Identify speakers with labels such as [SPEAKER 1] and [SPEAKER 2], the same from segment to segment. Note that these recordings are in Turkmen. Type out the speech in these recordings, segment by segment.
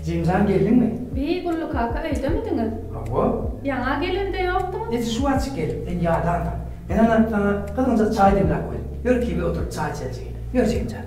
[SPEAKER 1] Jemjan geldiňmi? Beý, Gully kaka öýdemidiňiz? Hawa. Ýaňa gelende ýokduňyz? Nji şu wagt çyk geldim. Men ýadandym. Men ana saňa gyzgynjak çaý demläp goýdum. Ýör kibe oturyp çaý içelijigiň. Ýör Jemjan.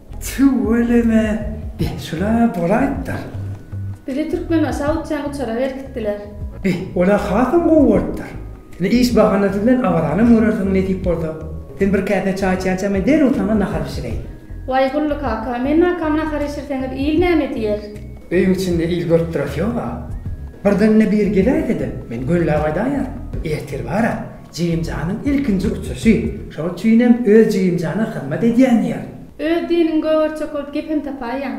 [SPEAKER 1] Tüweleme, beh, şular-a bolaýypdyr. Bizi türkmen aşak uçýan uçara berkitdiler. Beh, ol-a hasam gowy bolupdyr. Ine, iş bahanasy bilen awaranam görersiň, nesip bolsa. Sen bir käse çaý içýänçä, men derrew saňa nahar bişireýin. Waý, Gully kaka, men nakam nahar işirseňiz, il näme diýer? Öýüň içinde il görüp durasy ýog-a. Birdenine biri geläýse-de, men gönüläp aýdaýaryn. Ertir bar-a, Jigimjanyň ilkinji uçuşy. Şol üçinem öz jigimjana hyzmat edýän ýer. Öz diniň gögerçek bolup gepem tapaýýaň.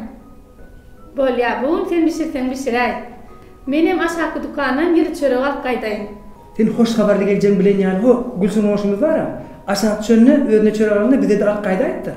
[SPEAKER 1] Bolýa, bu gün sen bişirseň bişiräý. Menem aşaky dükandan ýyly çörek alyp gaýdaýyn. Sen hoş habarly geljegiňi bilen ýaly, ho, Gülsüm goňşymyz bar-a, aşak düşende özüne çörek alanda bize-de alyp gaýdaýypdyr.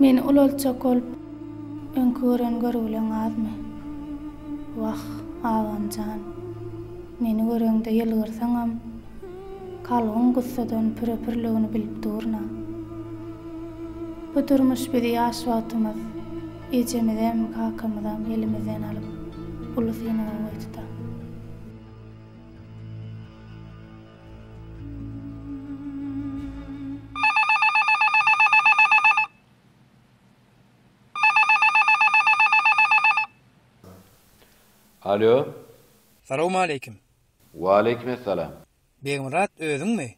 [SPEAKER 1] Meni ulaltjak bolup öňki gören görgüleň azmy? Wah, agam jan, meni göreňde ýylgyrsaňam, kalbyň gussadan püre-pürligini bilip durun-a. Bu durmuş bizi ýaş wagtymyz ejemizem, kakamyzam elimizden alyp, uly synaga goýdy-da. Alo. Salowmaleýkim. Waleýkim essalam. Begmyrat özüňmi?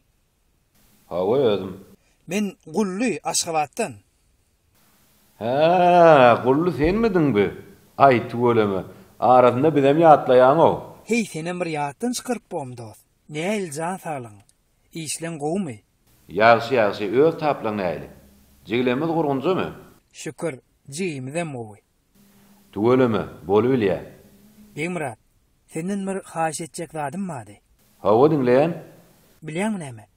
[SPEAKER 1] Hawa özüm. Men Gully Aşgabatdan. Hä, Gully senmidiň bi? Aý, tüweleme. Arasynda bizem ýatlaýaň-ow. Heý, senem bir ýatdan çykaryp bom, dost. Nähili jan saglygyň? Işleň gowumy? Ýagşy, ýagşy. Öz taplaň nähili? Jigilerimiz gurgunjamy? Şükür, jigimizem gowy. Tüweleme, bolubilýä. Begmyrat, senden bir haýyş etjek zadym bardy. Hawa, diňleýän. Bilýäňmi näme?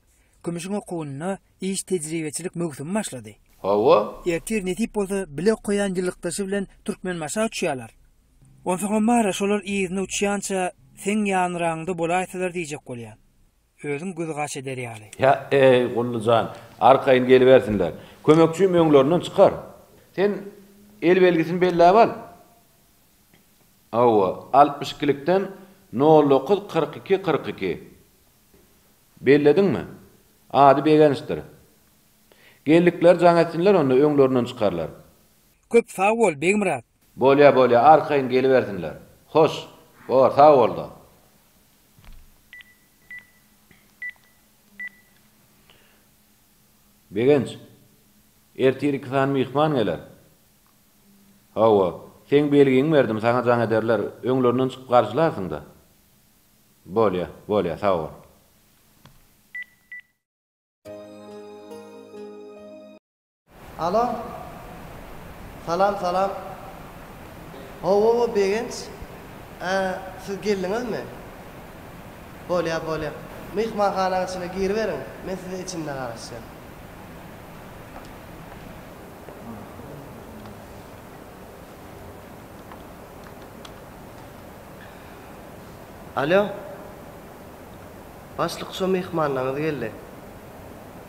[SPEAKER 1] Kümüşiň okuwynda iş tejribeçilik möwsümi başlady. Hawa? Ertir nesip bolsa bile okaýan ýylykdaşy bilen Türkmenbaşa uçýarlar. Onsoňam bar-a şolar yzyna uçýança seň ýanraňda bolaýsalar diýjek bolýan. Özüň gözgaç eder ýaly. Hä-eý, Gully jan, arkaýyn gelibersinler. Kömekçim öňlerinden çykar. Sen el belgisini belläp al. Hawa, altmyş ikilikden nol dokuz kyrk iki kyrk iki. Bellediňmi? Ady Begençdir. Geldikleri jaň etsinler onda, öňlerinden çykarlar. Köp sag bol, Begmyrat. Bolýa bolýa arkaýyn gelibersinler. Hoş, bor sag bolda. Begenç, ertir iki sany myhman geler. Hawa, seň belgiňi berdim, saňa jaň ederler, öňlerinden çykyp garşylarsyň-da. Bolýa, bolýa, sag bol. Alo. Salam salam. Hawa-wa Begenç. Ä, siz geldiňizmi? Bolýar, bolýar. Myhmanhanaň içine giriberiň, men size içinde garaşýan. Alo. Başlyk şo myhmanyňyz geldi.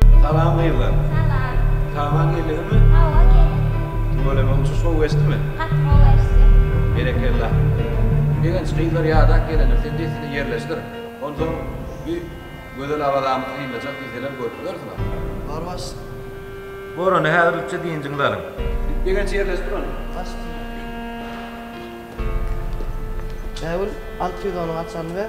[SPEAKER 1] Salam gyzlar. Salam. Hawa geldiňizmi? Hawa geldim. Tüweleme uçuş gowy geçdimi? Gaty gowy geçdi. Berekella. Begenç gyzlar ýadak gelendir sen dessine ýerleşdir. Onsoň bu gözel Awazamyz synlajak diýseler görüp bilersiňiz. Barbaş. Gorany häzir rütçe dynjyňyzy alyň. Begenç ýerleşdir ony. Başt. Bägül, al pizonyň açaryny ber.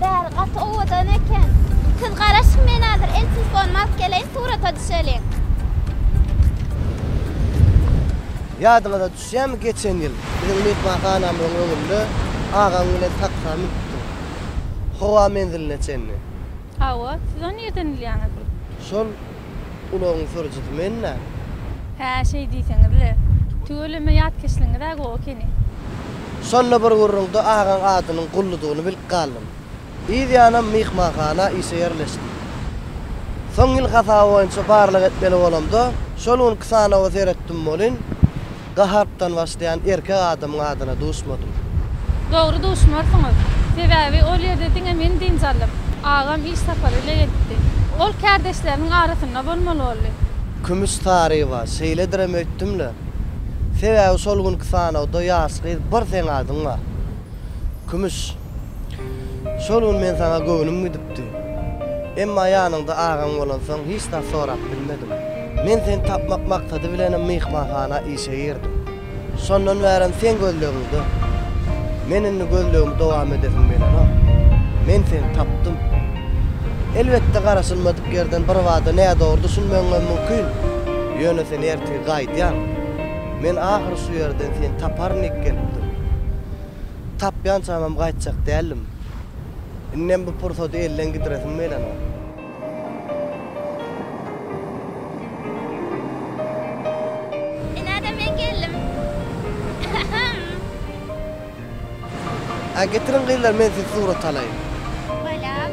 [SPEAKER 1] Bäri gaty owadan eken. Siz garaşyň men hazır el telefonumy alyp geleýin surata düşeliň. Ýadyňyza düşýärmi geçen ýyl biziň myhmanhanamyzyň öňünde agaň bilen taksä münüpdiň. Howa menziline çenli. Hawa, siz ony nirden bilýäňiz? Şol Ulagyň sürüjisi men däl. Hä, şeý diýseňiz-le. Tüweleme ýatkeşligiňiz-ä gowy ekeni. Şonda bir gürrüňde agaň adynyň Gulludygyny bilip galdym. Yz ýanam myhmanhana işe ýerleşdim. Soň ýyl hasaby boýunça barlag etmeli bolamda, şol günki sanawa seretdim welin, Ga harpdan başlaýan erkek adamyň adyna duşmadym. Dogry duşmarsyňyz. Sebäbi ol ýerde diňe men dynç alyp, agam iş sapary ile gelipdi. Ol kärdeşleriniň arasynda bolmaly boldy. Kümüş Saryýewa, Şeýledirem öýtdüm-le. Sebäbi şol günki sanawda ýaş gyz bir seň adyň bar. Kümüş. Şol gün men saňa göwnüm gidipdi. Emma ýanyňda agaň bolansoň hiç zat sorap bilmedim. Men seni tapmak maksady bilenem myhmanhana işe girdim. Şondan bärem seň gözlegiňde. Men indi gözlegimi dowam edesim gelenok. Men seni tapdym. Elbetde garaşylmadyk ýerden birbada nädogry düşünmegiňem mümkin. Ýöne sen ertir gaýdýaň. Men ahyry şu ýerden seni taparyn diýip gelipdim. Tapýançamam gaýtjak däldim. Indem bu pursady elden gidiresim gelenok. Ine-de men geldim. Äý, getiriň gyzlar, men sizi surata alaýyn. Balam.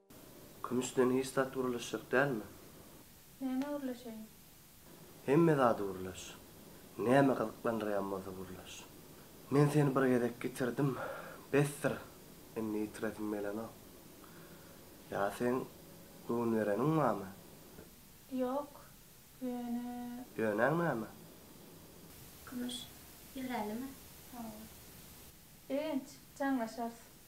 [SPEAKER 1] Kümüşden hiç zat gürleşjek dälmi? Nämä gürleşeýin? Hemme zady gürleş. Näme gyzyklandyrýan bolsa gürleş. Men seni bir gezek ýitirdim, besdir, indi ýitiresim gelenok. Ýa seň göwün bereniň barmy? Ýok, ýöne. Ýöneň näme? Kümüş, ýigrälimi? Hawa. Begenç, jaňlaşarys.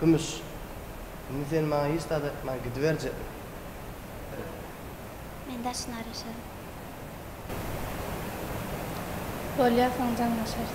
[SPEAKER 1] Kümüş, indi sen maňa hiç zat aýtman gidiberjekmi? Ýok. Men daşyny araşaryn. Bolýar, soň jaňlaşarys.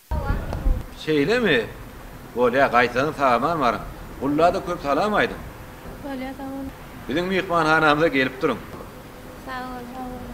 [SPEAKER 1] Şeýlemi? Bolýa, gaýtadan saman baryň. Gullada köp salam aýdyň. Bolýa, sag boluň. Biziň myhmanhanamyza gelip duruň. Sag boluň, sag boluň.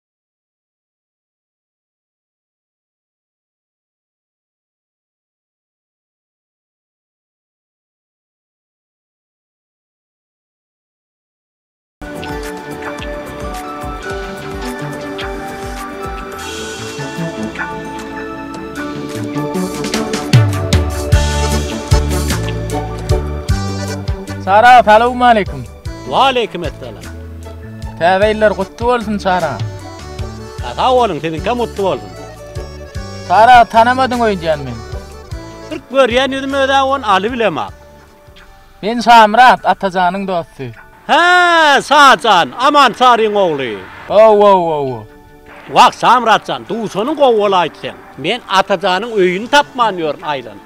[SPEAKER 1] Salam, salowmaleýkim. Waleýkimessalam. Täze ýyllar gutly bolsun Çara. Sag boluň siziňkem gutly bolsun. Çara tanamadyň öýdýän men. Bir görýän ýüzüm özä on aly bilemok. Men Şamyrat Atajanyň dosty. Hä Şajan Aman Saryň ogly. Owowowo. Wah Şamyratjan duşanyň gowy bolaýdy seň. Men Atajanyň öýüni tapman ýörün aýlanyp.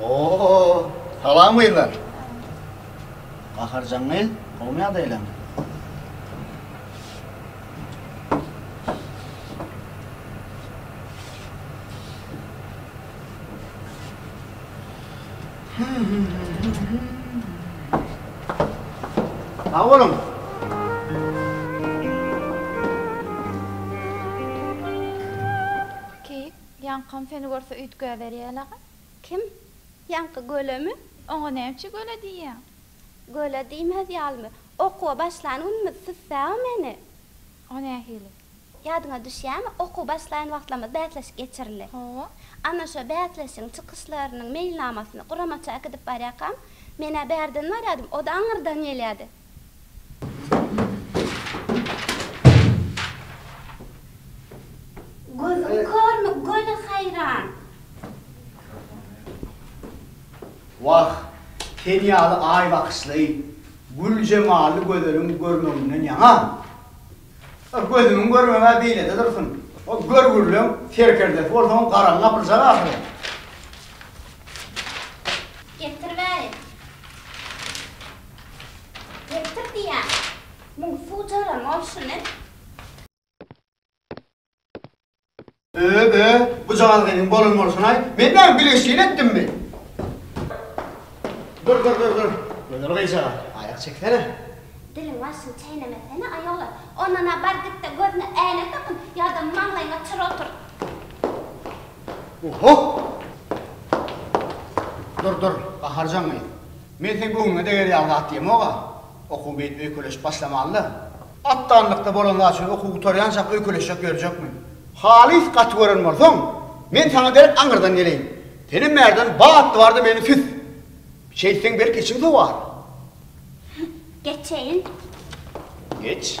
[SPEAKER 1] Oo Salam gyzlar. Gaharjan gyz gowmy ýagdaýlaň. Sag boluň. Keýik Ýaňkam seni görse üýtgäberýälaga. Kim? Ýaňky gölemi? Oňa nämçe göle diýýäň? Göle diýmez ýalymy? Okuwa başlan günümiz süssäw meni. O nähili? Ýadyňa düşýämi, okuwa başlaýan wagtlarymyz bäsleşik geçirildi. Hawa. Ana şo bäsleşigiň çykyşlarynyň meýilnamasyny guramaça äkidip barýarkam, men-ä bärden barýardym, o-da aňyrdan gelýärdi. Gözüň körmi göni haýran. Wah, sen ýaly aý bakyşly, gül jemally gözeliň görmeginden ýaňa. Gözümiň görmegi-ä beýlede dursun, o görgülileň serkerdesi bolsaň garaň gapyljak ahyry. Getir bäri. Getir diýýän. Muň suw jaram bolşuny. Ö-ö, bu jaňalgynyň bolan bolşuny-aý. Men näme bilgeşleýin etdimmi? Dur, dur, dur, dur. Gözel gyzjagaz, aýak çeksene. Diliň başyny çeýnemesene, aýola. Ondan-a bar git-de, gözüne äýnek dakyn, ýa-da maňlaýyňa çyr oturt. Oho! Dur, dur, gaharjaň gyz. Men seň göwnüňe deger ýaly zat diýemog-a. Okuw beýdip öýkeleşip başlamaly-da. Atdanlykda bolan zat üçin okuw gutarýançak öýkeleşjek ýörjekmi? Halys gaty gören bolsaň, men saňa derek aňyrdan geleýin. Senem bärden bat bar-da meni süs. Şeýtseň belki içiň sowar. Geçeýin. Geç.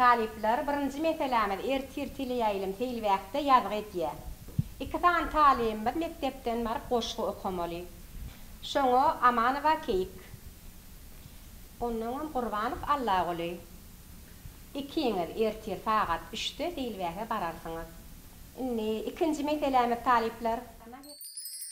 [SPEAKER 1] Talyplar, birinji meselämiz ertir teleýaýlym seýilbäkde ýazgy edýä. Iki sany talybymyz mekdepden baryp goşgy okamaly. Şoňa Amanowa Keýik. Onnoňam Gurbanow Allaguly. Ikiňiz ertir sagat üçde seýilbäke bararsyňyz. Indi ikinji meselämiz talyplar.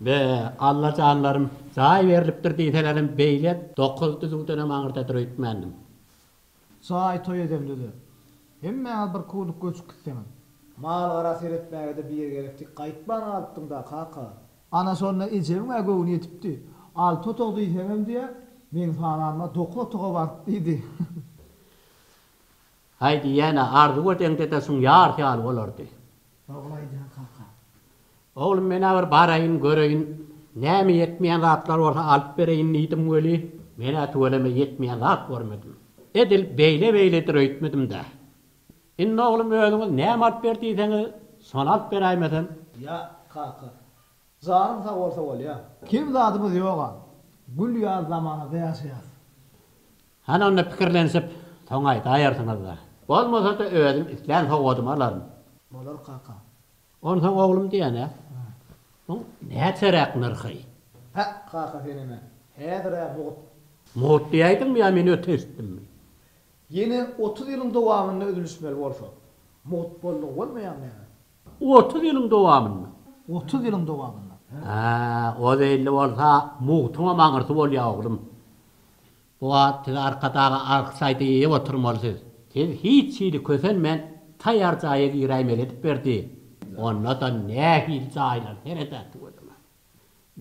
[SPEAKER 1] Be, allajanlarym, jaý berlipdir diýselerem beýle dokuz düzüwdenem aňyrdadyr öýtmändim. Jaý toý edemde-de, hemmäňiz bir kuwlyk göçüp gitseňiz. Mal-gara seretmäge-de biri gerekdi, gaýtman galypdyň-da, kaka. Ana şonda ejemiň-ä göwni ýetipdi. Alty otag diýseňem diýýä, meň sananyma dokuz otaga baryp diýdi. Haý diýýän-ä, Arzuw edeňde-de şuň ýarysy ýaly bolardy. Dogry aýdýaň kaka. Oglum, men-ä bir baraýyn, göreýin. Näme ýetmeýän zatlar bolsa alyp bereýin diýdim weli, men-ä tüweleme ýetmeýän zat görmedim. Edil beýle-beýledir öýtmedim-dä. Indi oglum özüňiz näme alyp ber diýseňiz, şony alyp beräýmesem? Ýa, kaka. Janyň sag bolsa bolýa. Kem zadymyz ýog-a. Gül ýaly zamanada ýaşaýas. Hany onda pikirlenişip soň aýdaýarsyňyz-da. Bolmasa-da özüm islän sowgadymy alaryn. Bolar kaka. Onsoň oglum diýýän-ä. Muň näçeräk nyrhy? Päk kaka seneme. Häzir-ä mugt. Mugt diýäýdiňmi ýa men öte eşitdimmi? Ýene otuz ýylyň dowamynda üzülişmeli bolsa. Mugt boldugy bolmaýarmy ýa-da? Otuz ýylyň dowamynda. Otuz ýylyň dowamynda. Hä, o zeýilli bolsa mugtuňam aňyrsy bolýa oglum. Bu wagt siz Arkadaga arg saýty iýip oturmaly siz. Siz hiç hili kösenmän taýar jaýa giräýmeli edip berdi. Onda-da nähili jaýlar seredäsi gözüňe.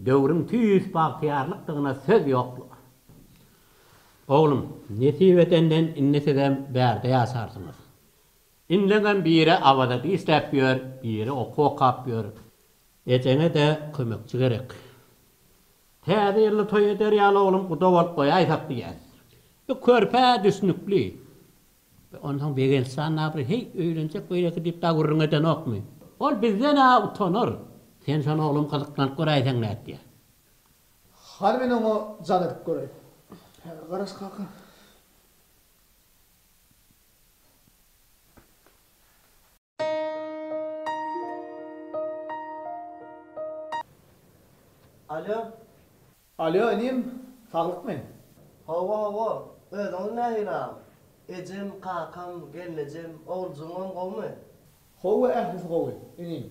[SPEAKER 1] Döwrüň tüýs bagtyýarlykdygyna söz ýok bu. Oglum, nesip edenden indi sizem bärde ýaşarsyňyz. Indeňem biri Awaza dişläp ýör, biri okuw okap ýör. Ejeňe-de kömekçi gerek. Täze ýylda toý eder ýaly oglum guda bolup goýaýsak diýýäs. Bu körpä düşnükli. Be, onsoň Begençjan nabry, heý, öýlenjek beýleki diýip dagy gürrüň edenokmy? Ol bizden-ä utanar. Sen şony oglum gyzyklanyp göräýseň nätýär. Hany men oňa jan edip göräýin. Häzir garaş kaka. Alýo. Alýo, inim, saglykmy? Hawa, hawa. Özüňiz nähili agam? Ejem, kakam, gelnejem, oguljygymam gowumy? Hawa, ählisi gowy, inim.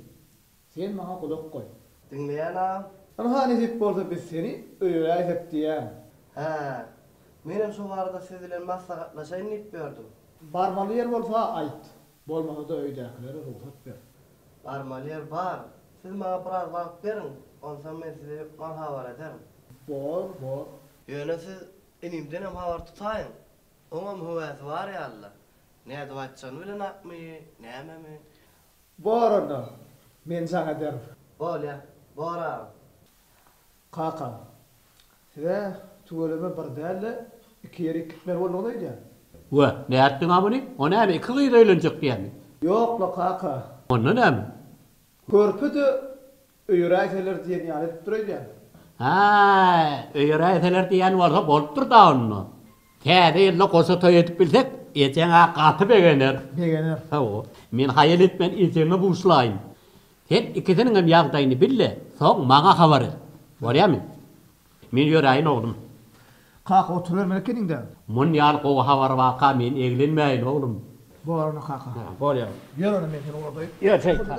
[SPEAKER 1] Sen maňa gulak goý. Diňleýän agam. Ynha, nesip bolsa biz seni öýeräýsek diýýän. Hä. Menem şo barada siz bilen maslahatlaşaýyn diýip ýördüm. Barmaly ýer bolsa aýt. Bolmasa-da öýdäkilere rugsat ber. Barmaly ýer bar. Siz maňa biraz wagt beriň, onsoň men sizi mal habar ederin. Bor, bor. Ýöne siz inimdenem habar tutaýyň. Oňam höwesi bar ýaly-la. Nädip aýtjagyny bilenokmy, nämemi? Bor onda. Men jaň ederin. Bolýa, bor agam. Kakam, Siz-ä tüweleme bir däl-de, iki ýerik gitmeli bolduňyz öýdýän. We, nätdiň-ä muny? O näme, iki gyz öýlenjek diýýämi? Ýok-la, kaka. Onda näme? Körpe-de öýeräýseler diýen ýaly edipdir öýdýän. Hä, öýeräýseler diýýän bolsa bolupdyr-da onda. Täze ýylda goşa toý edip bilsek, ejeň-ä gaty begener. Begener. Hawa. Men haýal etmän ejeňe buşlaýyn. Sen ikisiniňem ýagdaýyny bil-de, soň maňa habar et. Bolýamy? Men ýöräýin, oglum. Kaka, oturybermeli ekeniň-dä. Muny ýaly gowy habary baka men eglenmäýin, oglum. Bor onda, kaka. Bolýar. Ýör onda, men seni ugradaýyn. Ýör, şeýtan.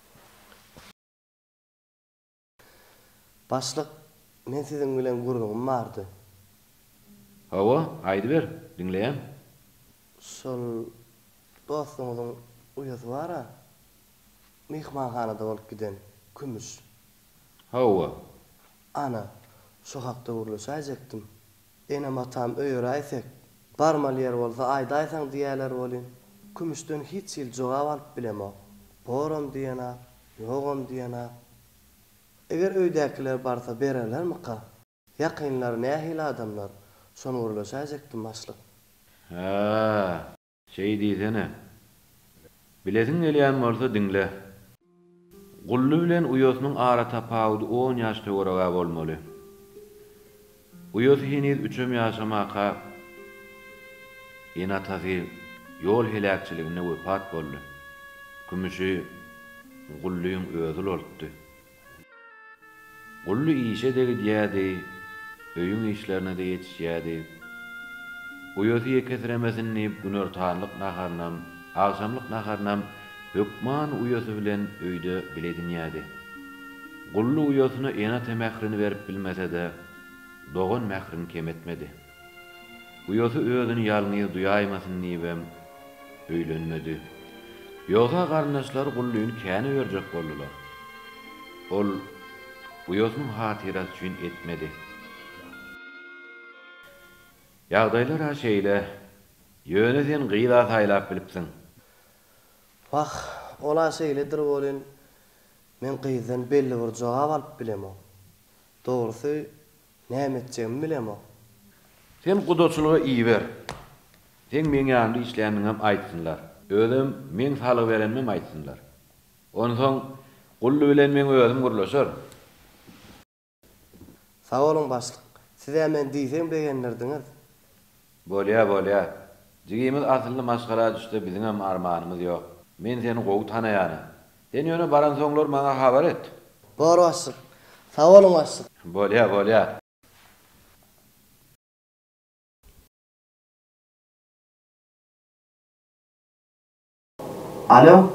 [SPEAKER 1] Başlyk, men siziň bilen gürrüňim bardy. Hawa, aýdyber, diňleýän. Şol dostuňyzyň uýasy bar-a, myhmanhanada bolup giden, kümüş. Hawa. Ana, şo hakda gürleşäýjekdim. Enem-atam öýeräýsek, barmaly ýer bolsa aýdaýsaň diýerler welin, Kümüşden hiç hili jogap alyp bilemok. Boram diýenok, ýogam diýenok. Eger öýdäkiler barsa bererlermika? Ýakynlary nähili adamlar? Şony gürleşäýjekdim, başlyk. Hä. Şeý diýsene. Bilesiň gelýän bolsa diňle. Gully bilen uýasynyň ara tapawudy on ýaş töwereg-ä bolmaly. Uýasy heniz üçem ýaşamaka ene-atasy ýol heläkçiliginde wepat boldy. Kümüşi Gullyň özi ulaltdy. Gully işe-de gidýärdi, öýüň işlerine-de ýetişýärdi. Uýasy ýekesiremesin diýip günortanlyk naharynam, agşamlyk naharynam hökman uýasy bilen öýde bile edinýärdi. Gully uýasyna ene-ata mährini berip bilmese-de, dogan mährini kem etmedi. Uýasy özüni ýalňyz duýaýmasyn diýibem öýlenmedi. Ýogsa garyndaşlary Gullyny känä berjek boldular. Ol uýasynyň hatyrasy üçin etmedi. Ýagdaýlar-a şeýle. Ýöne sen gyz-a saýlap bilipsiň. Wah, ol-a şeýledir welin, men gyzdan belli bir jogap alyp bilemok. Dogrusy, Näme etjegimi bilemok. Sen gudaçylyga iber. Seň meň ýanymda işländigiňem aýtsynlar. Özem meň salgy berenimem aýtsynlar. Onsoň Gully bilen meň özüm gürleşerin. Sag boluň, başlyk. Siz-ä meni diýseň begendirdiňiz. Bolýa, bolýa. Jigimiz asylly maşgala düşse biziňem armanymyz ýok. Men seni gowy tanaýanam. Sen ýöne baransoňlar maňa habar et. Bor başlyk. Sag boluň başlyk. Bolýa, bolýa. Alo.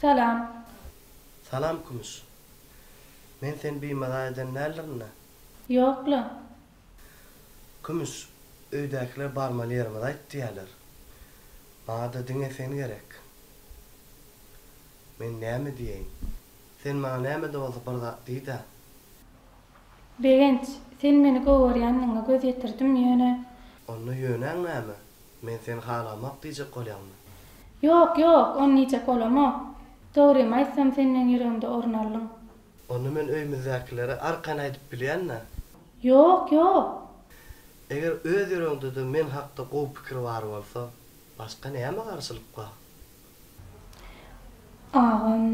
[SPEAKER 1] Salam. Salam Kümüş. Men seni bimaza eden däldirin-dä? Ýok-la. Kümüş, Öýdäkiler barmaly ýerimiz aýt diýýärler. Maňa-da diňe sen gerek. Men näme diýeýin? Sen maňa näme-de bolsa bir zat diý-dä. Begenç, Sen meni gowy görýändigiňe göz ýetirdim, ýöne. Onda ýöneň näme? Men seni halamok diýjek bolýaňmy? Ýok, ýok, ony diýjek bolamok. Dogrymy aýtsam, sen meň ýüregimde orun aldyň. Onda men öýümizdäkilere arkan aýdyp bilýän-dä. Ýok, ýok. Eger öz ýüregiňde-de men hakda gowy pikir bar bolsa, başga näme garşylyk bar? Agam.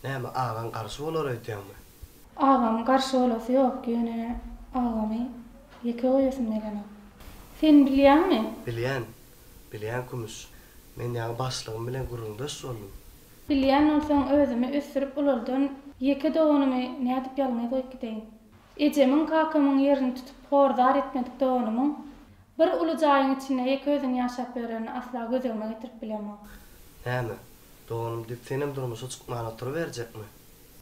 [SPEAKER 1] Näme, agaň garşy bolar öýdýäňmi? Agam garşy bolasy ýok, ýöne agamy ýeke goýasym gelenok. Sen bilýäňmi? Bilýän. Bilýän Kümüş, men ýaňy başlygym bilen gürrüňdeş boldum. Bilýän bolsaň özümi ösdürip ulaldan ýeke doganymy nädip ýalňyz goýup gideýin. Ejemiň, kakamyň ýerini tutup hor-zar etmedik doganymyň bir uly jaýyň içinde ýeke özüň ýaşap ýörenini asla gözegime getirip bilemok. Näme, doganym diýip senem durmuşa çykman oturyberjekmi?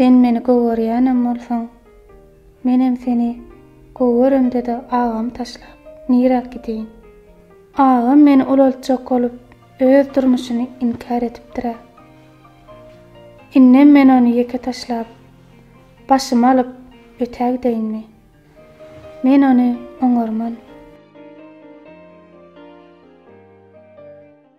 [SPEAKER 1] Sen meni gowerýänem bolsaň, menem seni goweremde-de agamy taşlap, niräk gideýin? Agam meni ulaltjak bolup, öz durmuşyny inkär edipdir-ä. Indem men ony ýeke taşlap, başymy alyp, ötä gideýinmi? Men ony oňarman.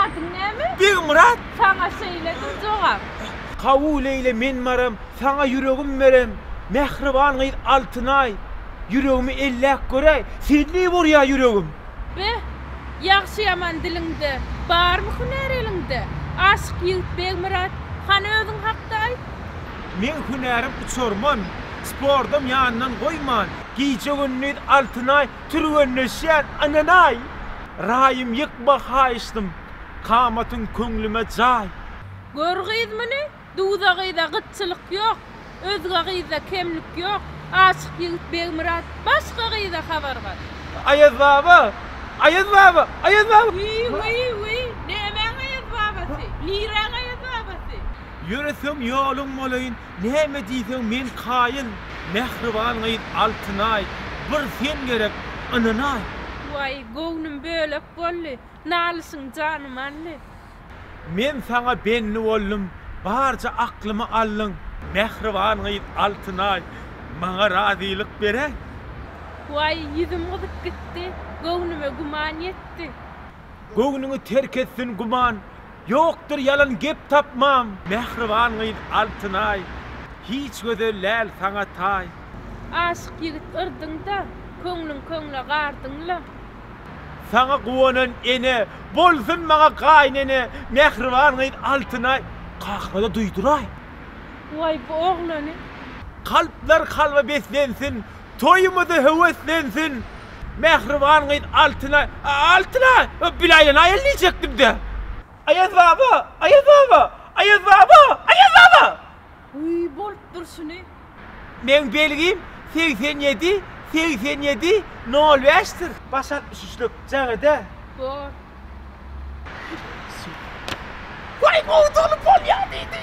[SPEAKER 1] Adyň näme? Begmyrat. Saňa şeýledir jogap. Hawu Leýle men baram saňa ýüregim berem mähriban gyz Altynaý ýüregimi elläp göräý senli bolýa ýüregim. Be, ýagşy ýaman diliňde, barmy hünär eliňde? Aşyk ýigit Begmyrat, hany özüň hakda aýt? Meň hünärim uçarman, sportam ýandan goýman, gije-gündiz Altynaý türgenleşýän ynanaý, Raýym ýykma haýyşdym, kamatyň köňlüme jaý. Gör gyz muny, duza gyza gytçylyk ýok, Özge gyzda kemlik ýok, aşyk ýigit Begmyrat, başga gyza habar bar. Aýaz baba! Aýaz baba! Aýaz baba! Wiý-wiý-wiý, nämäň Aýaz babasy? Niräň Aýaz babasy? Ýöreseň ýoluň bolaýyn. Näme diýseň men kaýyl, mähriban gyz Altynaý, bir sen gerek, ynanaý. Waý, göwnüm bölek boldy, nalyşyň janym aldy. Men saňa bendi boldum, barja aklymy aldyň. Mähriban gyz Altynaý, maňa razylyk beräý. Waý, ýüzüm gyzyp gitdi, göwnüme güman ýetdi. Göwnüňi terk etsin güman, Ýokdur ýalan gep tapmam. Mähriban gyz Altynaý. Hiç gözel däl saňa taý. Aşyk ýigit yrdyňda. Köňlüň köňle gardyňla. Saňa guwanan ene. Bolsun maňa gaýynene. Mähriban gyz Altynaý. Kakyna-da duýduraý. Waý bu oglany. Kalplar kalba beslensin. Toýumyzy höweslensin mähriban gyz Altyna Altyna bil aýlan aýal diýjekdimdä. Aýaz baba! Aýaz baba! Aýaz baba! Aýaz baba! Wiý bolup durşuny. Meň belgim segsen ýedi segsen ýedi nol bäş dir. Baş altmyş üçlük jagada. Bor. Waý gowy dolup bolýa diýdi.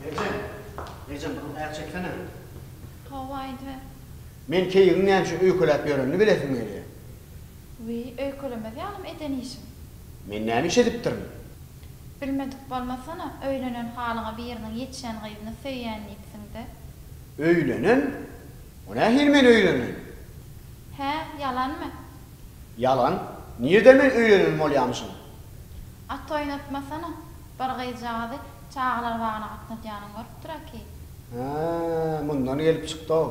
[SPEAKER 1] Merjen, Merjen munuň aýak çeksene. Toba aýdyber. Men keýigiň näçe öýkeläp ýörenini bilesim gelýär. Wiý, öýkelemez ýalym eden işiň. Men näme iş edipdirin? Bilmedik bolmasana, öýlenen halyňa biriniň ýetişen gyzyny söýýän diýipsiň-dä. Öýlenen? O nähili men öýlenen? Hä, ýalanmy? Ýalan. Nirde men öýlenen bolýamyşyn? At oýnatmasana, bir gyzjagazy çagalar bagyna gatnadýanyny görüpdir-ä ki. Hä, mundan gelip çykdy-ow.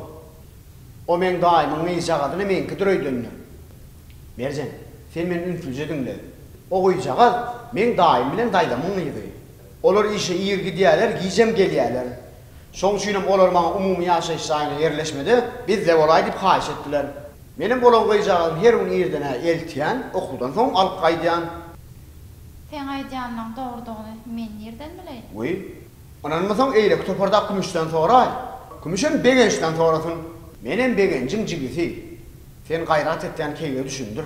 [SPEAKER 1] O meň daýymyň gyzjagazyny meňkidir öýdende. Merjen, sen meni ünslüje diňle. O gyzjagaz meň daýym bilen daýzamyň gyzy. Olar işe ir gidýärler, gijem gelýärler. Şoň üçinem olar maňa umumy ýaşaýyş jaýyna ýerleşmede bizde bolaý diýip haýyş etdiler. Menem bolan gyzjagazymy her gün irden-ä eltýän, okuwdan soň alyp gaýdýan. Seň aýdýanyňyň dogrudygyny men nirden bileýin? Wiý, ynanmasaň eýleki topardaky Kümüşden soraý. Kümüşem Begençden sorasyn. Menem Begenjiň jigisi. Sen gaýrat etýän keýige düşündir.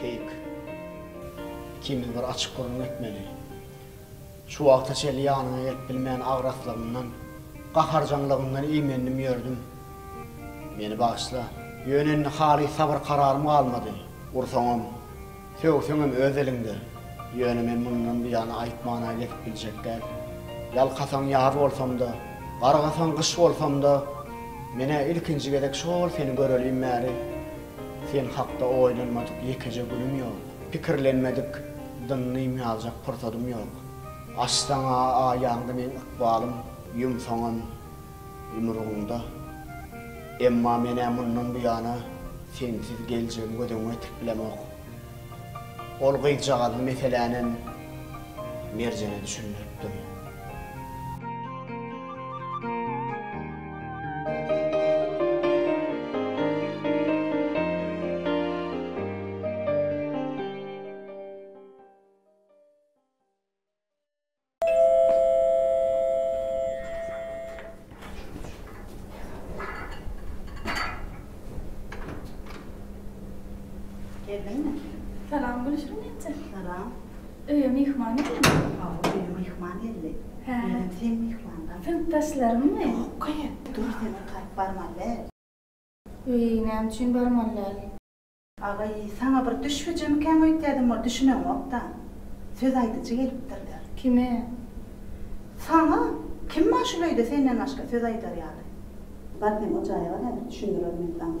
[SPEAKER 1] Keýik. Ikimiz bir açyk gürrüň etmeli. Şu wagta çenli ýanyňa gelip bilmän agraslygymdan, gaharjaňlygymdan iýmendim ýördüm. Meni bagyşla. Ýöne indi halys sabyr-kararym galmady. Ursaňam, Sögseňem öz eliňde. Ýöne men mundan buýana aýtmana gezip biljek däl. Ýalkasaň ýaz bolsam-da, gargasaň gyş bolsam-da, men-ä ilkinji gezek şol seni görelim bäri sen hakda oýlanmadyk ýekeje günüm ýok, pikirlenmedik dynnym aljak pursadym ýok. Açsaň-a aýaňda meň ykbalym, ýumsaňam. Ýumrugyňda. Emma men-ä mundan buýana sensiz geljegimi göz öňüme getirip bilemok. Ol gyzjagazly meselänem Merjene düşündiripdim. Geldiňmi? Salam Gülşirin enje. Salam. Öýe myhman geldi. Hawa, öýe myhman geldi. Hä. Menem seň myhmanlaň. Synpdaşlaryňmy? Ýok-a, dur, seni gytaryp barmaly däl. Eý, näme üçin barmaly däl? Agaý, saňa bir düş hüjemikäň öýtýädim ol düşüneňokda. Söz aýdyjy gelipdirler. Kime? Saňa! Kim bar şul öýde senden başga söz aýdar ýaly? Bar sen o jaýa bar häzir düşündirer men saňa.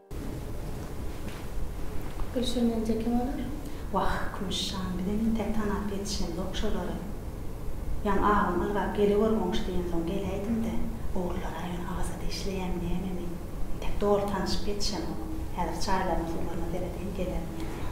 [SPEAKER 1] Gülşen Mence kim olar? Wah, Kümüş jan, bize entek tanap ýetişenzok şolary. Ýaň abam ylgap geligör goňşy diýensoň geläýdim-de, ogrulara ýöne Awaza dişleýämi nämemi, entek doly tanyşyp ýetişemok. Häzir çaýlaryna-suwlaryna seredeýin gelerin ýene ýaňa.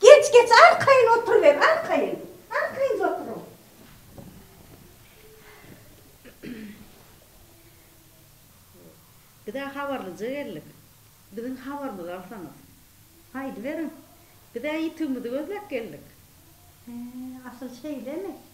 [SPEAKER 1] Geç, geç, arkaýyn oturyber, arkaýyn. Arkaýyn oturyň. Biz-ä habarlyja geldik. Biziň habarymyzy alsaňyz. Aýdyberiň. Biz-ä ýitigimizi gözläp geldik. He, asyl şeýlemi?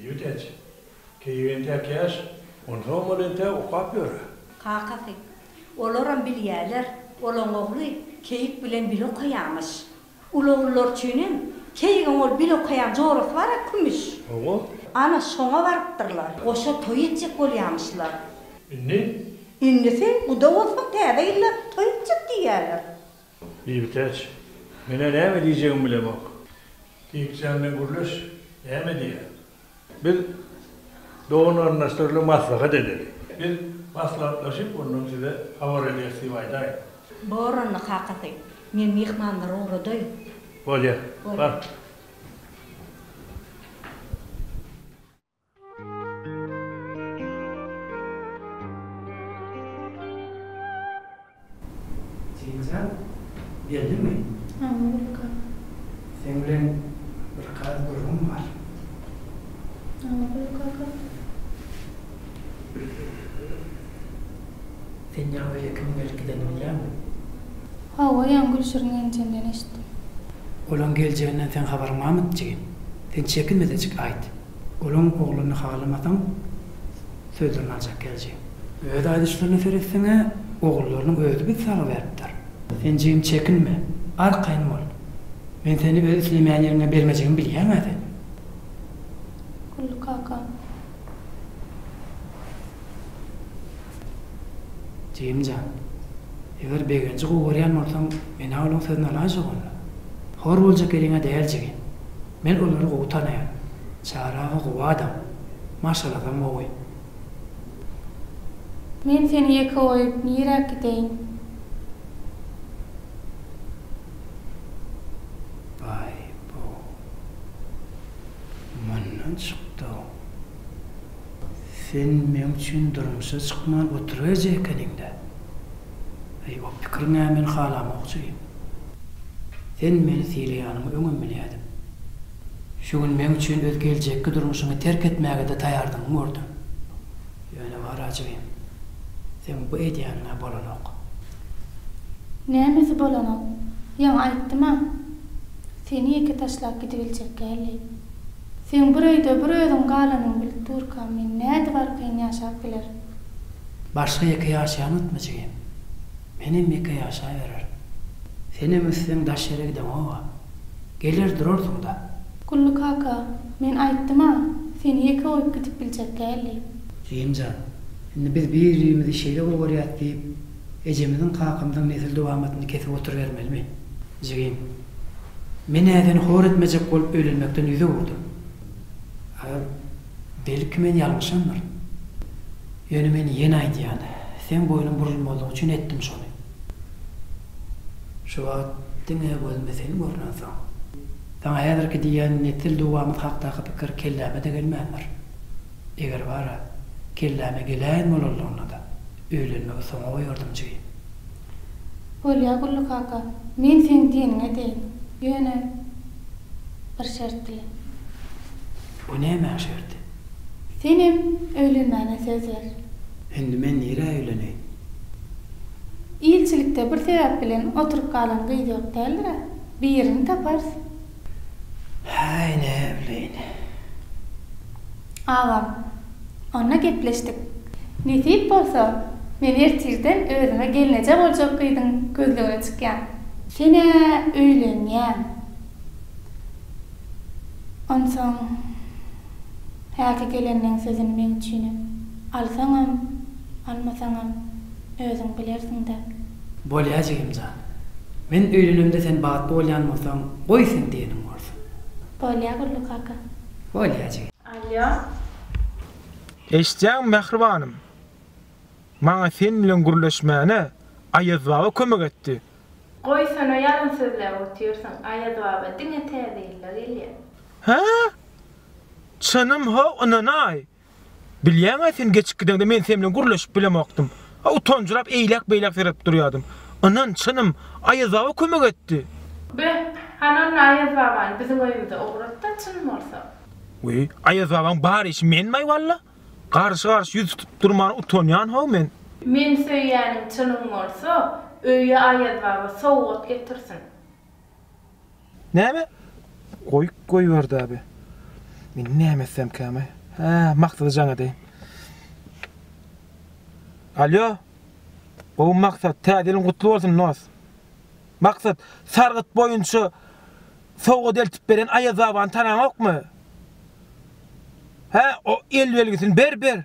[SPEAKER 1] Ýüwteç. Keýik entäk ýaş. Onsoňam ol entäk okap ýör. Kakasy. Olaram bilýärler, olaň ogly keýik bilen bile okaýarmyş. Uly ogullar üçinem keýigiň ol bile okaýan jorasy bar a kümüş. Oňa. Ana, şoňa barypdyrlar. Goşa toý etjek bolýarmyşlar. Indi? Indisi, guda bolsun, täze ýylda toý etjek diýýärler. Bibitäç, Men-ä näme diýjegimi bilemok. Dikjan bilen gürleş, näme diýýär? Biz doganarnaşdyryly maslahat edeli. Biz maslahatlaşyp, ondan size habar ederis diýip aýdaýyn. Boranly kakasy, men myhmanlary ugradaýyn. Bolýar, bar. Jenjal geldimi? Hany Gülka? Seň bilen bir gaz gürrüňim bar. Hany Gülkaka? Sen ýaňy beýle kimiň gelip gidenini bilýäňmi? Hawa, ýaňy Gülşirin gelnjenden eşitdim. Olaň geljegininden seň habaryň barmydy jigim? Sen çekinme-de çyk aýt. Guluň ogluny halamasaň, sözlerini aljak gelji. Öz aýdyşlaryna seretseň-ä, ogullarynyň özi biz sag beripdir. Sen jigim çekinme, arkaýyn bol. Men seni öz islemeýän ýeriňe bermejegimi bilýäň-ä sen. Gully kaka. Jigim jan. Eger Begenji gowy görýän bolsaň, men-ä olaň sözüni alaýjak onda. Hor boljak ýeriňe däl jigim. Men olary gowy tanaýan. Çary aga gowy adam. Maşgalasam gowy. Men seni ýeke goýup niräk gideýin? Baý, bu mundan çykdy-ow. Sen meň üçin durmuşa çykman oturajy ekeniň-dä. Eý, o pikiriň-ä men halamokçy diýip. Sen meni sylaýanyňy öňem bilýädim. Şu gün meň üçin öz geljekki durmuşyňy terk etmäge-de taýardygyňy gördüm. Ýöne bar-a jigim, seň bu edýäniň-ä bolanok. Nämesi bolanok? Ýaňy aýtdym-a, seni ýeke taşlap gidibiljek däldi. Seň bir öýde bir özüň galanyňy bilip durka men nädip arkaýyn ýaşap bilerin. Başga ýeke ýaşaýaň ötme jigim. Menem ýeke ýaşaýbererin. Senem össeň daş ýere gideňoga. Geler durarsyň-da. Gully kaka, men aýtdym-a, seni ýeke goýup gidip biljek däl diýip. Jigimjan, indi biz bir-birimizi şeýle bir görýäs diýip, Ejemiziň kakamdan nesil dowamatyny kesip oturybermelimi, jigim? Men ädini hor etmejek bolup öýlenmekden ýüz öwürdüm. Agam, belki men ýalňyşamdyr. Ýöne men ýene aýdýan, seň boýnuň burulmazlygy üçin etdim şony. Şu wagt diňe gözüme sen görnensoň, saňa häzirki diýýän nesil dowamaty hakdaky pikir kelläme-de gelmändir. Eger bar-a, kelläme gelän bolanlygynada, Öýlenmegi soňa goýardym jeý. Bolýa Gully kaka, men seň diýeniňi edeýin. Ýöne bir şert bilen. Bu nämäň şerti? Senem öýlenmäne söz ber. Indi men nirä öýleneýin? Ilçilikde bir sebäp bilen oturyp galan gyz ýok däldir-ä? Birini taparys. Häý, näbileýin. Agam, onda gepleşdik. Nesip bolsa, men ertirden özüme gelneje boljak gyzyň gözlegine çykýan. Sen-ä öýlenýäň. Onsoň. Häki gelenleň sözüni meň üçinem. Alsaňam, almasaňam, özüň bilersiň-dä. Bolýa jigim jan. Men öýlenemde sen bagtly bolýan bolsaň, goý sen diýeniň bolsun. Bolýa Gully kaka. Bolýa jigim. Alýo. Eşitýäňmi mähribanym. Maňa sen bilen gürleşmäne Aýaz baba kömek etdi. Goýsana ýalyn sözläp otyrsyň Aýaz baba diňe täze ýylda gelýä. Hä? Çynym how ynanaý. Bilýäňä sen geçip gideňde men sen bilen gürleşip bilemokdym. A utanjyrap eýläk beýläk seredip durýadym. Ynan çynym Aýaz baba kömek etdi. Be, hany onda Aýaz babany biziň öýümize ugratda çyn bolsa. We Aýaz babaň bar işi menmaý walla. Garşy garşy ýüz tutup durmana utanýan how men. Men söýýäniň çynyň bolsa öýe Aýaz baba sowgat getirsin. Näme? Goý, goýberdi abi. Men näme etsem käme? Hä, maksady jaň edeýin. Alýo. Gowy maksat, täze ýylyň gutly bolsun nos. Maksat, sargyt boýunça sowgat eltip beren Aýazbabany tanaňokmy? Hä, o el belgisini ber, ber.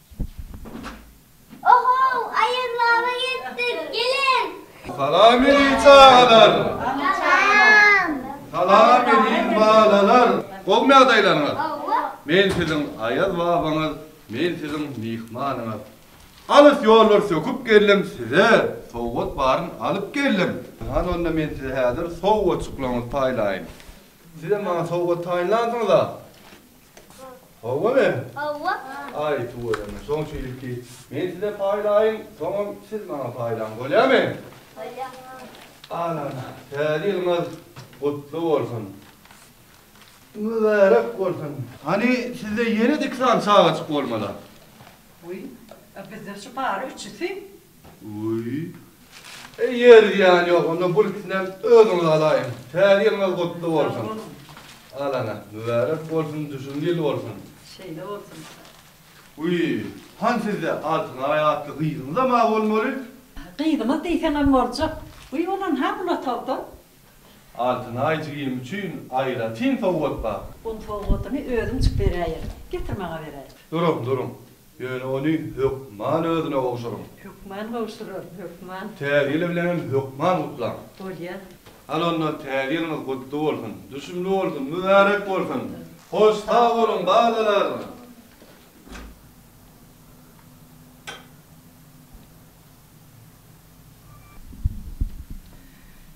[SPEAKER 1] Ohow, aýazlaba ýetdik, geliň! Salam edin çagalar! Salam! Salam edin balalar! Gowmy ýagdaýlaryňyz? Gowy! Men siziň aýaz babaňyz, men siziň myhmanyňyz. Alys ýollar söküp geldim, size sowgat baryn alyp geldim. Hany onda men size häzir sowgatjyklaryňyzy paýlaýyn. Sizem maňa sowgat taýynlansyňyz-a? Hawa men? Hawa. Aý, tüweleme, soň şeýdip ki, men size paýlaýyn, soňam siz maňa paýlaň, bolýamy? Bolýar. Alan, Täze ýylyňyz gutly bolsun! Mübärek bolsun! Hany, sizde ýene-de iki sany çagaçyk bolmaly-a? Wiý, a bizde şu bary üçüsi. Öý. Eý ýer zyýan ýok onda gul ikisinem özüňiz alaýyň. Täze ýylyňyz gutly bolsun. Alaňa. Mübärek bolsun düşümli ýyl bolsun. Şeýle bolsun. Öý. Han sizde Altynaý atly gyzyňyzam bar bolmaly. Gyzymyz diýseňem boljak. Öý bolan ha bul otagda. Altyn aý jigim üçin aýratyn sowgat bar. Oň sowgatyny özüm çyk beräýerin. Getir maňa beräý. Durun, durun. Ýöne ony hökman özüne gowşuryň. Hökman gowşuraryn, hökman. Täze ýyl bilen hem hökman gutlaň. Bolýa. Hany onda Täze ýylyňyz gutly bolsun, düşümli bolsun, mübärek bolsun. Hoş sag boluň, balalar!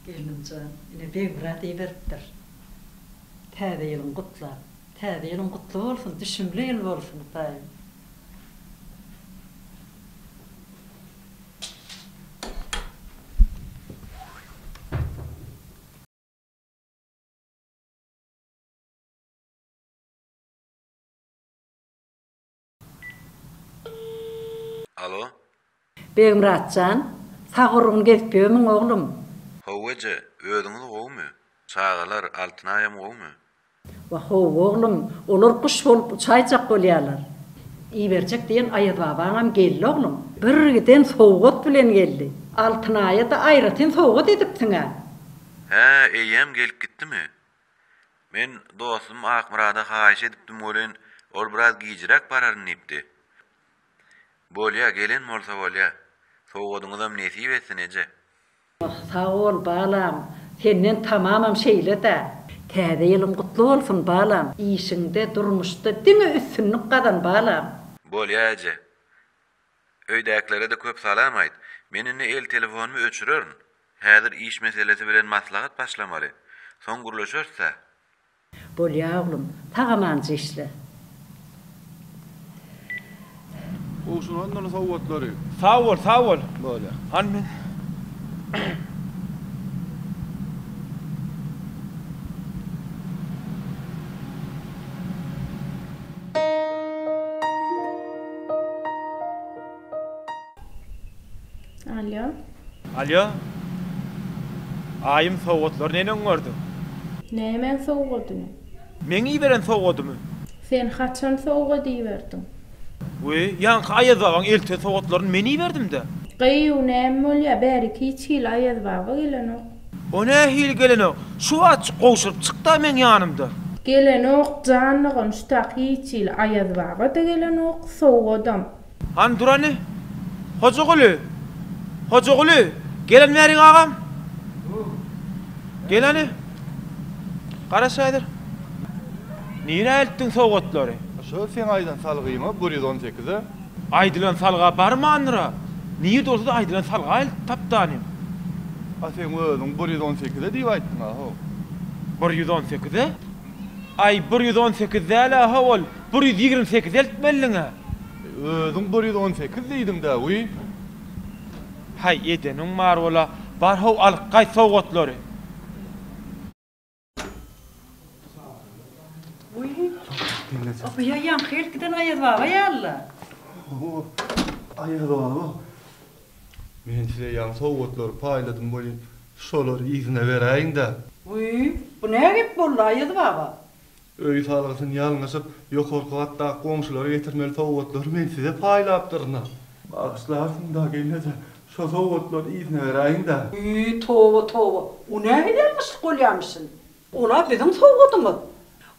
[SPEAKER 1] Gelnimjan ine Begmyrat iberipdir. Täze ýylyň gutlap. Täze ýylyň gutly bolsun, düşümli ýyl bolsun Hudaýym. Alo. Begmyrat jan, sag urgun gezip ýörmüň oglum? How eje, özüňiz gowumy? Çagalar, Altynaýam gowumy? Wah how oglum, olar guş bolup uçaýjak bolýarlar. Iberjek diýen Aýazbabaňam geldi oglum. Birgiden sowgat bilen geldi. Altynaýa-da aýratyn sowgat edipsiň-ä. Hä, eýýäm gelip gitdimi? Men dostum Akmyrada haýyş edipdim welin, ol biraz gijräk bararyn diýipdi. Bolýa, gelen bolsa bolýa. Sowgadyňyzam nesip etsin, eje. Oh, sag bol, balam. Senden tamamam şeýle-dä. Täze ýylyň gutly bolsun, balam. Işiňde, durmuşda diňe üstünlik gazan, balam. Bolýa, eje. Öýdäkilere-de köp salam aýt. Men indi el telefonymy öçürerin. Häzir iş meselesi bilen maslahat başlamaly. Soň gürleşeris-ä. Bolýa oglum, sag-amanjy işle. Gowşuň ondan sowgatlary. Sag bol, sag bol. Bolýa. Hany men. Alýo. Alýo. Aýym sowgatlar neni öňerdiň? Nämäň sowgadyny? Meň iberen sowgadymy? Sen haçan sowgat iberdiň? We ýaňky Aýazbabaň elten sowgatlaryny men iberdim-dä. Gyýw näme bolýa bärik hiç hili Aýazbaba gelenok. O nähili gelenok? Şu wagt gowşuryp çykda meň ýanymda. Gelenok jan dogan şu tak hiç hili Aýaz baba-da gelenok, sowgadam. Hany durany? Hojaguly! Hojaguly! Gelen bärik agam? Gel hany. Garaş häzir. Nirä eltdiň sowgatlary? Şo seň aýdan salgyma bir ýüz on sekize. Aýdylan salga barmandyr-a. Nirede bolsa-da aýdylan salgaýyl tapdanym. A seň özüň bir ýüz on sekiz-e diýip aýtdyň-a, how. Bir ýüz on sekiz-e? Aý, bir ýüz on sekiz däl-ä, how, ol bir ýüz ýigrimi sekiz eltmelidiň-ä. Özüň bir ýüz on sekiz diýdiň-dä, wiý. Haý, edeniň bar bol-a. Bar, how, alyp gaýt sowgatlary. Men size ýaňy sowgatlary paýladym welin, şolary yzyna beräýiň-dä. Öý salgysyny ýalňyşyp, ýokarky gatdaky goňşulara getirmeli sowgatlary men size paýlapdyryn-a. Bagyşlarsyň-da, gelneje, Şo sowgatlar yzyna beräýiň-dä. Ýy, toba, toba! O nägidermişlik bolýarmyşyn? Ol-a biziň sowgadymyz.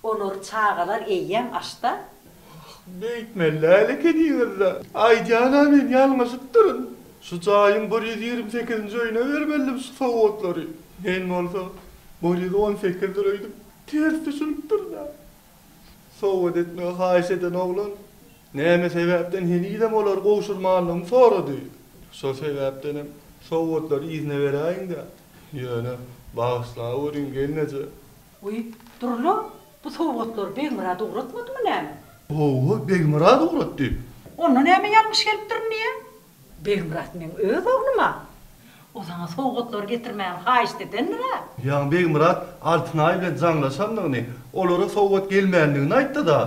[SPEAKER 1] Olary çagalar eýýäm aç-da. Wah, beýtmeli däl ekeniňiz-dä. Aýdýan-a men ýalňyşypdyryn. Şu jaýyň bir ýüz ýigrimi sekizinji öýüne bermelidim şu sowgatlary. Men bolsa bir ýüz on sekizdir öýdüp, ters düşünipdirin-ä. Sowgat etmegi haýyş eden oglan näme sebäpden henizem olary gowşurmanlygyny sorady. Şol sebäpdenem sowgatlary yzyna beräýiň-dä. Ýöne, bagyşlaweriň, gelneje. Wiý, dur-la, bu sowgatlary Begmyrat ugratmadymy näme? Hawa, Begmyrat ugratdy. Onda näme ýalňyş gelipdirin diýýä? Begmyrat meň öz ogluma o saňa sowgatlary getirmäni haýyşt edendir-ä. Ýaňy Begmyrat Altynaý bilen jaňlaşandygyny, olara sowgat gelmändigini aýtdy-da.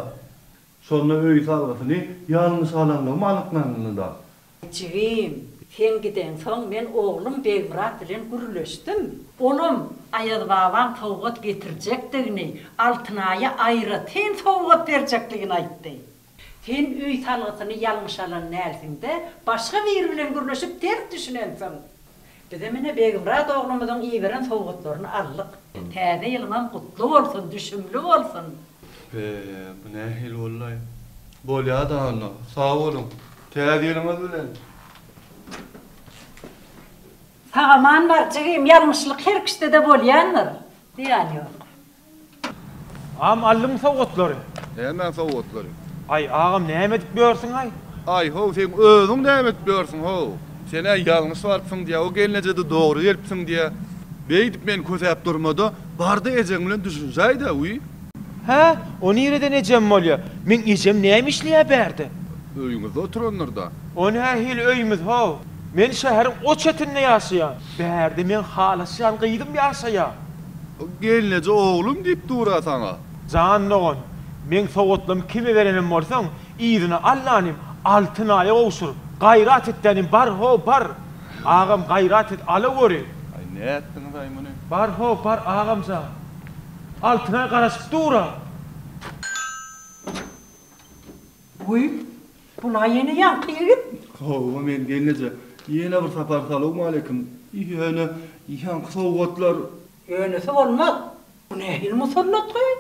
[SPEAKER 1] Şonda öý salgysyny ýalňyş alanlygym anyklandy-da. Jigim, sen gideňsoň men oglum Begmyrat bilen gürleşdim. Olam Aýaz babaň sowgat getirjekdigini, Altynaýa aýratyn sowgat berjekdigini aýtdy. Sen öý salgysyny ýalňyş alan dälsiňdä, başga biri bilen gürleşip ters düşünensiň. Bizem ine Begmyrat oglumyzyň iberen sowgatlaryny aldyk. Täze ýylyňam gutly bolsun, düşümli bolsun! Be, bu nähili bollaý? Bolýa-da onda, sag boluň! Täze ýylyňyz bilen! Sag-aman bar, jigim, ýalňyşlyk her kişide-de bolýandyr. Zyýany ýok. Agam aldyňmy sowgatlary. Näme sowgatlary? Aý agam näme edip ýörsüňaý. Aý how seň özüň näme edip ýörsüň how. Senä ýalňyş barypsyň diýä o gelnejede dogry gelipsiň diýä. Beýdip meni kösäp durmada barda ejeň bilen düşünşäýdä wiý. Hä o nireden ejem bolýa. Meň ejem näme işleýä bärde. Öýüňizde oturandyrda. O nähili öýümiz how. Men şäheriň o çetinde ýaşaýan. Bärde meň halaşýan gyzym ýaşaýa. Gelneje oglum diýip dur-a saňa. Jan dogan, meň sowatlymy kime berenem bolsaň, yzyna allanym Altynaýa gowşur. Gaýrat etdänim bar, ho, bar! Agam, gaýrat et, alagöri! Aý, nätdiňiz-aý muny? Bar, ho, bar, agam jan! Altynaý garaşyp dur-a! Guý, Bula ýene ýaňky ýigit. Howwa men gelneje ýene bir sapar salowmaleýkim. Ýöne ýaňky sowgatlar. Ýönesi bolmaz. Bu nähili musallat gyz?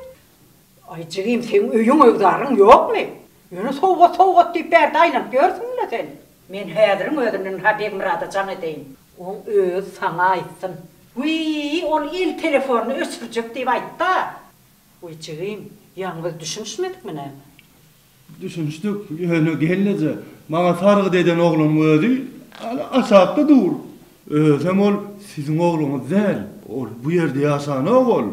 [SPEAKER 1] Aý jigim seň öýüň öwzaryň ýokmy? Ýöne sowgat sowgat diýip bärde aýlanyp ýörsüň-le sen. Men häziriň özünden-ha Begmyrada jaň edeýin. Oň özi saňa aýtsyn. Wiý, ol el telefonyny öçürjek diýip aýt-da. Wiý jigim, ýaňy biz düşünişmedikmi näme? Düşünişdik, ýöne gelneje maňa sargyt eden oglanyň özi ýaly aşakda dur. Özem ol siziň ogluňyz däl. Ol bu ýerde ýaşanok ol.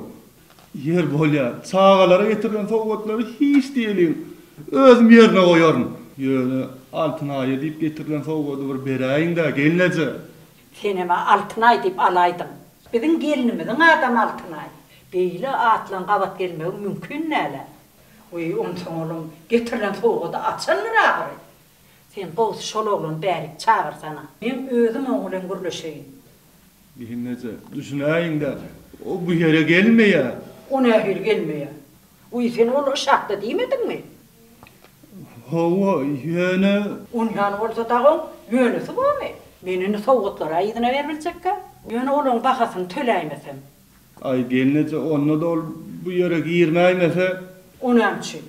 [SPEAKER 1] Ýer bolýar, çagalara getirilen sowgatlary hiç diýeliň, özüm ýerine goýaryn. Ýöne Altynaýa diýip getirilen sowgady bir beräýiň-dä, gelneje. Senem-ä Altynaý diýip alaýdyň. Biziň gelnimiziň adamy Altynaý. Beýle atlaryň gabat gelmegi mümkin däl-ä. Weý, onsoň olam getirilen sowgady açandyr ahyry. Sen gowusy şol oglany bärik çagyrsana. Men özüm oň bilen gürleşeýin. Bihineje, düşünäýiň-dä, o bu ýere gelmeýär. O nähili gelmeýär? Weý, sen ol Yşakda diýmediňmi? Hawa, ýöne. Onýany bolsa dagy oň ýönesi bormy? Men indi sowgatlara yzyna ber biljekkä. Ýöne olaň bahasyny töläýmesem. Aý, gelneje, onda-da ol bu ýere girmäýmese? O näme üçin?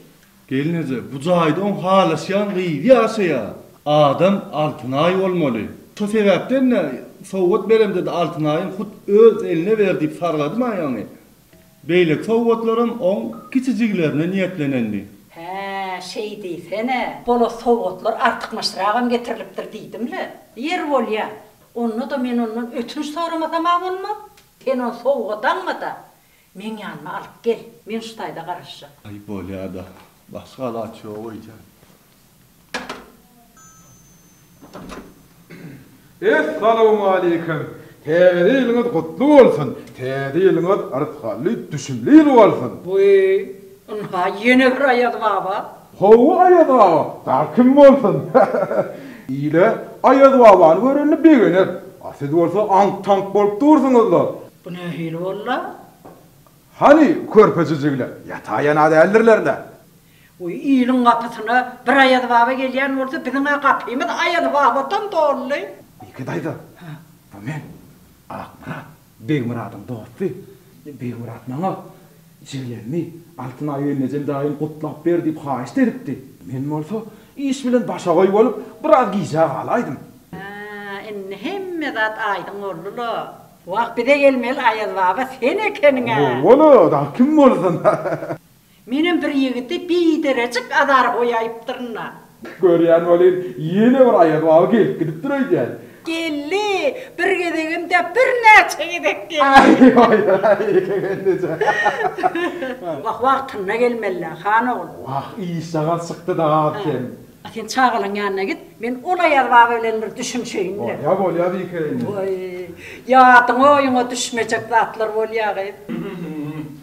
[SPEAKER 1] Gelneje, bu jaýda oň halaşýan gyzy ýaşaýar. Adam Altynaý bolmaly. Şo sebäpden-de sowgat beremde-de Altynaýyň hut öz eline ber diýip sargadym aýagyny. Beýleki sowgatlaram oň kiçijiglerine niýetlenendi. Hä, şeý diýsene. Bola sowgatlar artykmaçragam getirilipdir diýdim-le. Ýeri bolýa. Onda-da men ondan ötünç soramasamha bolmaz. Sen ony sowgadanma-da, meň ýanyma alyp gel. Men şu taýda garaşjak. Aý, bolýa-da. Başga alaç ýok öýdýän. Essalawmaleýkim! Täze ýylyňyz gutly bolsun! Täze ýylyňyz yrsgally, düşümli ýyl bolsun! Wiý, ynha, ýene bir Aýazbaba! Hawa Aýazbaba, dagy kim bolsun? Ile Aýazbabany görende begener. A siz bolsa aňk-taňk bolup dursuňyz-la. Bu nähili bol-la? Hany, körpe jüjügler? Ýata-ýana däldirler-le. Goý, iliň gapysyna bir Aýazbaba gelýän bolsa, biziň-ä gapymyz Aýazbabadan doly. Ýeke daýza, bu men, Akmyrat. Begmyradyň dosty Begmyrat maňa, Jiglerini Altyn aý Wennejen daýym gutlap ber diýip haýyşt edipdi. Men bolsa iş bilen başagaý bolup, biraz gijä galaýdym. Hä, indi hemme zat aýdyň boldy-la. Wah, bize gelmeli Aýazbaba sen ekeniň-ä! Bola-bola, dagy kim bolsun. Menem bir ýigidi biderejik azar goýaýypdyryn-a. Görýän welin, ýene bir aýaz baby gelip gidipdir öýdýän. Geldi, bir gezegem-dä, birnäçe gezek geldi. Aý-haý-haý, ýeke gelneje. Wah, wagtynda gelmeli-dä, han ogul. Wah, işjagal çykdy-da sen. A sen çagalaň ýanyna git, men ol aýaz baba bilen bir düşünişeýin. Bolýar, bolýar, ýeke gelneje. Waý, ýadyňa-oýuňa düşmejek zatlar bolýa gyz.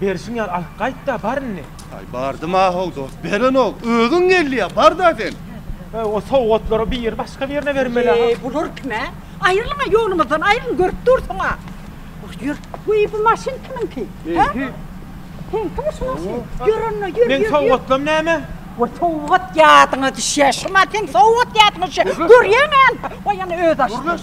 [SPEAKER 1] Berşiň ýar alyp gaýt-da, bar indi. Aý, bardym-a how, dost, berenok. Özüň gelýä, bar-da sen. He, o sowgatlary biri başga birine bermeli-ä. Eý, bular kim-ä? Aýrylyň-a ýolumyzdan, aýrylyň, görüp dursuň-a. Ýör, ýör. Wiý, bu maşyn kimiňki? Meňki. Seňkimi şu maşyn? Ýör onda, ýör, ýör. Meň sowgatlarym näme? Wah, sowgat ýadyňa düşýä, şuma seň sowgat ýadyňa düşýä. Görýäňä, ýa-da özi açdy. Görmez.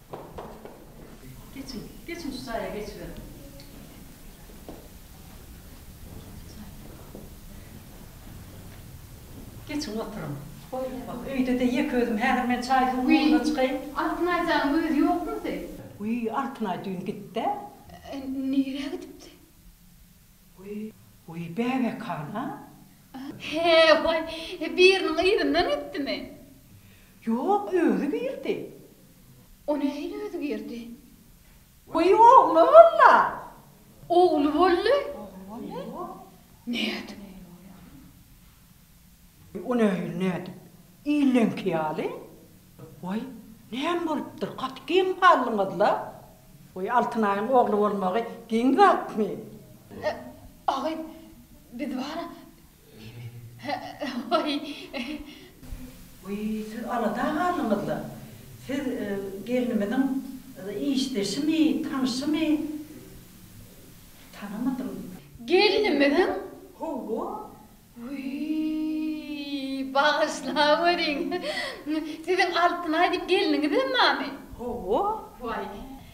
[SPEAKER 1] Geçiň, geçiň şu jaýa geçiberiň. Geçiň oturyň. Goýaýmaly. Öýde-de ýeke özüm, häzir men çaý-suw ugruna çykaýyn. Wiý, Altynay janyň özi ýokmydy? Wiý, Altynay düýn gitdi-ä. Nirä gidipdi? Wiý, bäbek han-a? He-he, biriniň yzyndan gitdimi? Ýok, özi girdi. O nähili özgerdi? Goý, ogly bolla. Ogly boldy. Nädip? O nähili nädip? Illeňki ýaly. Goý, näme bolupdyr? Gaty geň galdyňyz-la. Goý, Altynaýyň ogly bolmagy geň zatmy? Agy, biz bara Wiý, siz alada galdyňyz-la. Siz gelnimiziň işdeşimi, tanşymy? Tanamadym. Gelnimiziň? Hawa. Wiý, bagyşlaweriň. Siziň Altynaý diýip gelniňizem barmy? Hawa. Wiý,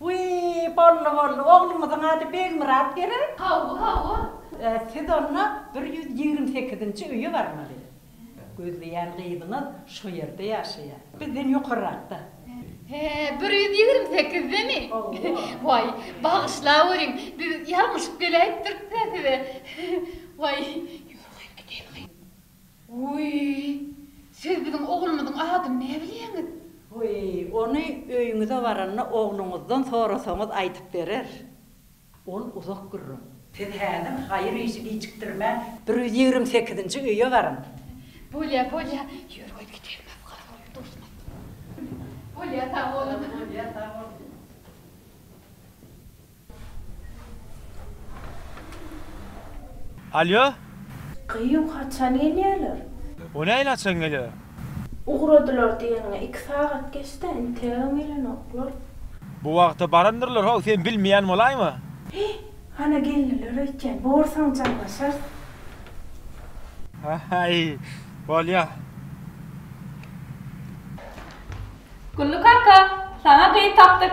[SPEAKER 1] Wiý, boldy, boldy. Oglumyzyň ady Begmyrat gerek? Hawa, hawa. Siz onda bir ýüz ýigrimi sekizinji öýe barmaly. Gözleýän gyzyňyz şo ýerde ýaşaýar. Bizden ýokarrakda. He, bir ýüz ýigrimi sekizdemi? Waý, bagyşlaweriň, biz ýalňyşyp geläýipdirik-dä size. Waý. Ýörüň, gideýin, gyz. Wiý, siz biziň oglumyzyň adyny näbilýäňiz? Wiý, ony öýüňize baranda ogluňyzdan sorasaňyz aýdyp berer. Ol uzak gürrüň. Siz häzir haýyr işi gijikdirmän bir ýüz ýigrimi sekizinji öýe baryň. Bolýa, bolýa, ýör goý gideýin biz gyz bolup duşmadyk. Bolýa, sag boluň. Bolýa, sag boluň. Alýo. Gyýw, haçan gelýärler? O nähili haçan gelýär? Ugradylar diýeniňe iki sagat geçdi-ä, integem gelenoklar. Bu wagta barandyrlar-how, sen bilmeýän bolaýma? He, hana geldiler öýtýän. Borsaň jaňlaşarys. Haý, bolýa. Gully kaka, saňa gyz tapdyk.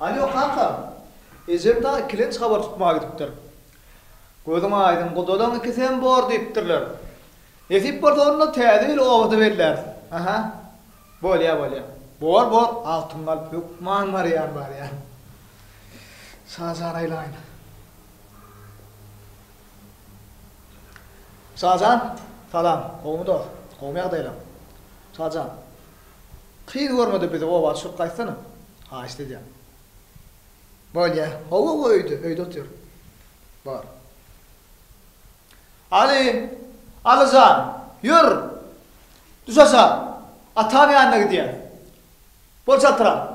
[SPEAKER 1] Alýo, kaka! Ejem dagy ikilenç habar tutmaga gidipdir. Gözüň aýdyň, gudalaň ikisem bor diýipdirler. Nesip bolsa, onda täze ýyl obada belläris. Aha. Bolýar, bolýar. Bor, bor, altyn galyp hökman barýan, barýan. Şajan aýlaýyn. Şajan, salam. Gowumy dost? Gowumy ýagdaýlaň? Şajan. Kyz görmede bizi oba düşürip gaýtsana. Haýyşt edýän. Bolýa. Hawa-hawa öýde, öýde otyr. Bar. Aly, Aly jan, ýör. Düş aşa. Ataň ýanyna gidýäs. Bol çaltrak.